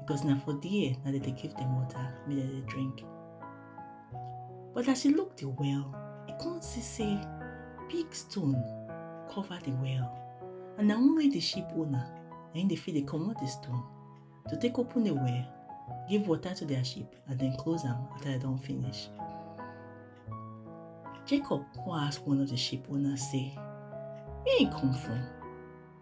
because na for there na dem dey give dem water make dem dey drink but as she look the well e come see say big stone cover the well and na only the sheep owner na im dey fit dey comot the stone to take open the well give water to their sheep and then close am after dem don finish jacob come ask one of the sheep owners say where im come from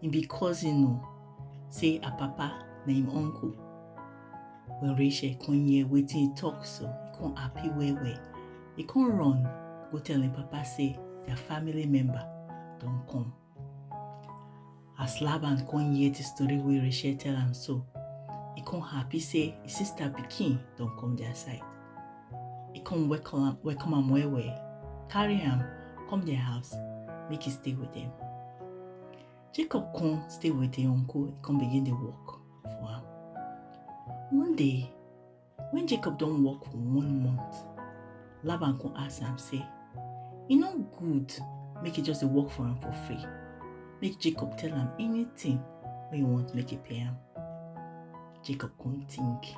He be cousin o. Say her papa na him uncle. When Rachel come hear wetin he talk so, he come happy well well. He come run go tell him papa say their family member don come. As Laban come hear the story wey Rachel tell am so, he come happy say his sister pikin don come their side. He come welcome am welcome am well well, carry am come their house, make he stay with them. Jacob come stay with him uncle, he come begin dey work for am. One day, when Jacob don work for one month, Laban come ask am say, e no good make he just dey work for am for free. Make Jacob tell am anything wey he want make he pay am. Jacob come think,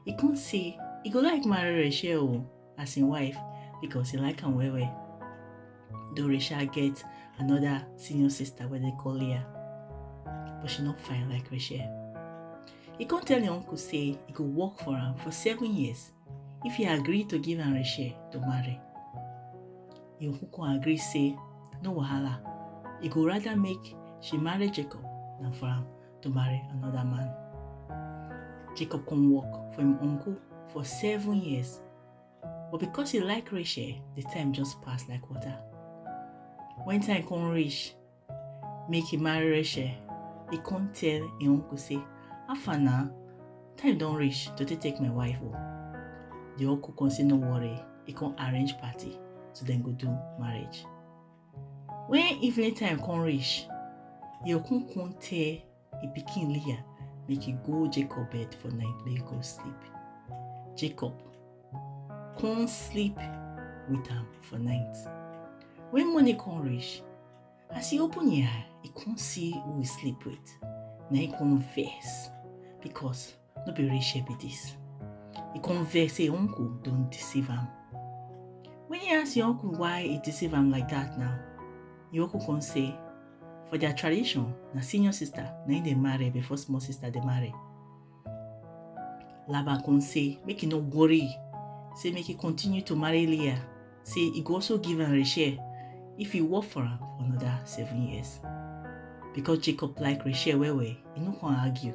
He come say he go like marry Rachel o as him wife because he like am well well. Though Rachel get another senior sister wey dey call Leah, but she no fine like Rachel. He come tell him uncle say he go work for am for seven years if he agree to give am Rachel to marry. Him uncle come agree say no wahala, he go rather make she marry Jacob than for am to marry another man. Jacob come work for him uncle for seven years. But because he like Rachel, the time just passed like water. When time come reach, make he marry Rachel, he come tell him uncle say, Afa na, time don reach to take take my wife o. The uncle come say no worry, he come arrange party so dem go do marriage. When evening time come reach, e come come tell e pikin Leah make e go Jacob bed for night make e go sleep. Jacob come sleep with am for night. When morning come reach, as e open e eye, e come see who e sleep with. Na e come vex because no be real share be this e come vex say uncle don deceive am when he ask your uncle why he deceive am like that now your uncle come say for their tradition na senior sister na him dey marry before small sister dey marry laban come say make he no worry say make he continue to marry leah say he go also give am rachel if he work for am for another seven years because jacob like rachel well well he no come argue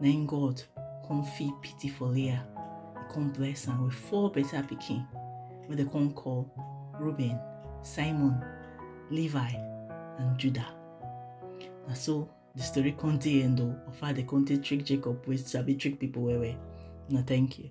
na im god come feel pity for leah e come bless am with four better pikin wey dem come call reuben simon levi and judah na so the story come dey end o of how dem come take trick jacob wey sabi trick people well well na thank you.